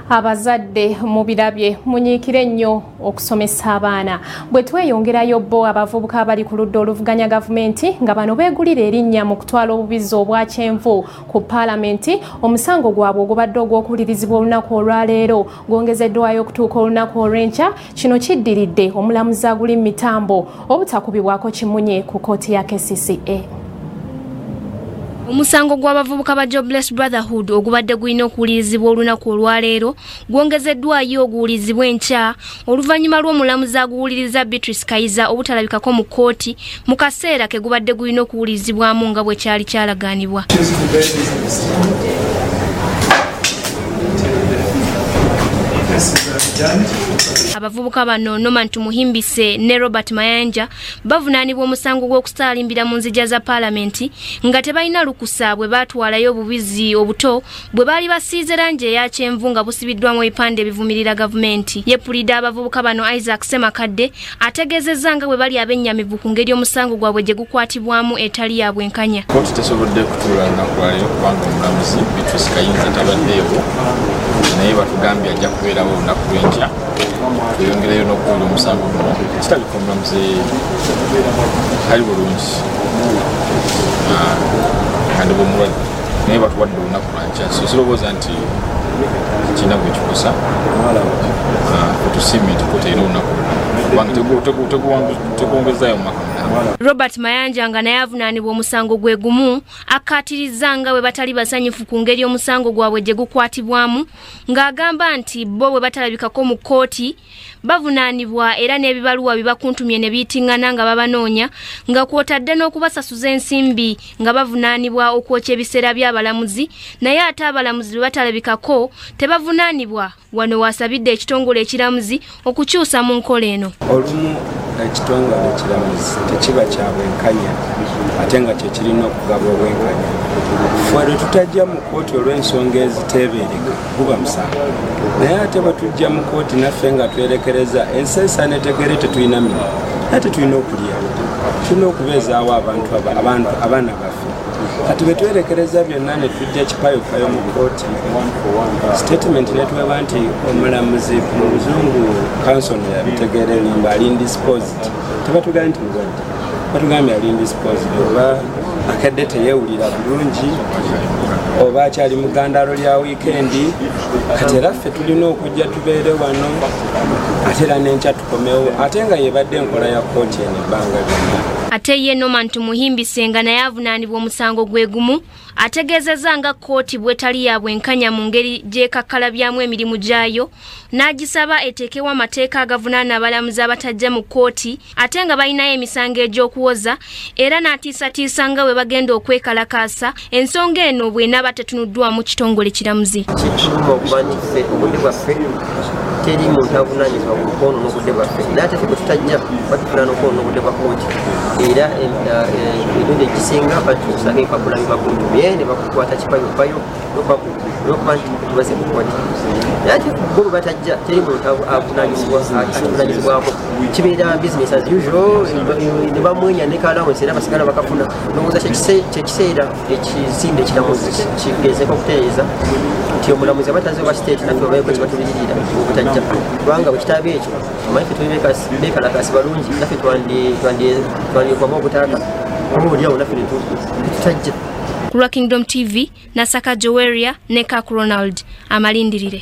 abazadde mubirabye munyiikire ennyo okusomesa abaana bwe tweyongerayo bo abavubuka abali ku ludda oluvuganya gavumenti nga bano beegulira erinnya mu kutwala obubizzi obwa kyenvu ku paalamenti omusango gwabwe ogubadde ogw'okuwulirizibwa olunaku olwaleero gwongezeddwayo okutuuka olunaku olw'enkya kino kiddiridde omulamuzi aguli mu mitambo obutakubibwako kimunye ku kkooti ya kcca omusango gw'abavubuka ba jobless brotherhood ogubadde gulina okuwulirizibwa olunaku olwaleero gwongezeddwayo oguwulirizibwa enkya oluvannyuma lw'omulamuzi aguwuliriza beatrice kayiza obutalabikako mu kkooti mu kaseera ke gubadde gulina okuwulirizibwamu nga bwe kyali kyalagaanibwa abavubuka bano norman tumuhimbise ne robert mayanja bavunaanibwa omusango gw'okusaalimbira mu nzija za paalamenti nga tebalina lukusa bwe baatwalayo obubizi obuto bwe baali basiize langi eya kyenvu nga busibiddwamu ebipande ebivumirira gavumenti yepulida abavubuka bano isaac semakadde ategeezezza nga bwe bali abennyamivu ku ngeri omusango gwabwe gye gukwatibwamu etali ya bwenkanya kooti tesobodde kutuula lunaku lwaleero kubanga omulamuzi bitrus kayinza tabaddeewo naye batugambye ajja kubeerawo olunaku lwenkya tweyongereyo n'okuwulira omusango guno kitabika omulamuzi ali bulungi ah, kandi bwomulwadde naye batuwadde olunaku sirowooza nti kirina gwe kikosa otusiimye nti kota era olunaku tekwongezaayo mu maka robert mayanja nga naye avunaanibwa omusango gwe gumu akkaatirizza nga bwe batali basanyufu ku ngeri omusango gwabwe gye gukwatibwamu ng'agamba nti bo bwe batalabikako mu kkooti bavunaanibwa era n'ebibaluwa bibakuntumye ne biyitingana nga babanoonya nga kwotadde n'okubasasuza ensimbi nga bavunaanibwa okwokya ebiseera by'abalamuzi naye ate abalamuzi bwe batalabikako tebavunaanibwa wano waasabidde ekitongole ekiramuzi okukyusa mu nkola eno olumu ekitongole ekiramuzi tekiba kya bwenkanya ate nga kyekirina okugaba obwenkanya fwe lwe tutajja mu kooti olw'ensonga eziteebeereka guba musango naye ate batujja mu kooti naffe nga twerekereza ensi esanetegere tetulina mirimu naye tetulina okulya tulina okubeezaawo abantu abaana baffe kati betwerekereza byonna netujja kipayopayo mu kooti statement netweba nti omulamuzi mu luzungu kansoni yabitegeera enyumba ali indisposed tebatugaa nti mulwadde batugambye ali indisposed oba akadde teyewulira bulungi oba akyali mu gandalo lya wiikendi kati era ffe tulina okujja tubeere wano ate era nenkya tukomewo ate nga yebadde enkola ya kooti eno ebbanga lyonna ate ye norman tumuhimbise nga naye avunaanibwa omusango gwe gumu ategeezezza nga kkooti bwetali ya bwenkanya mu ngeri gyekakkalabyaamu emirimu gyayo n'agisaba eteekewo amateeka agavunaana abalamuzi abatajja mu kkooti ate nga balinayo emisango egy'okuwoza era n'atiisatiisa nga bwe bagenda okwekalakaasa ensonga eno bw'enaaba tetunuddwamu kitongole kiramuzi teri muntu avunanyizibwa ku kwonoona obudde bwaffe naate fe bwetutajja batufuna nokwonoona obudde bwa kooti era emirundi egisinga batusanga empapula bibagundu bye ne bakukwata kipayopayo nokuba nti tubaze mu kooti naye ate bo bwe batajja teri muntu avunanyizibwako kibeera business as usual ne bamwenya ne kalawensi era basigala bakafuna nowooza kyekiseera ekizimbe ekiramuzi kigezeko okutereeza nti omulamuzi aba taze oba state naffe obaeko kibatuliririra obutajja kubanga bwekitaba ekyo omanyi fe tuli bekalakasi balungi naffe twandyekwama obutaaka oba oliawo naffe netutajja ku lwa kingdom tv nasaka joweria ne kak ronald amalindirire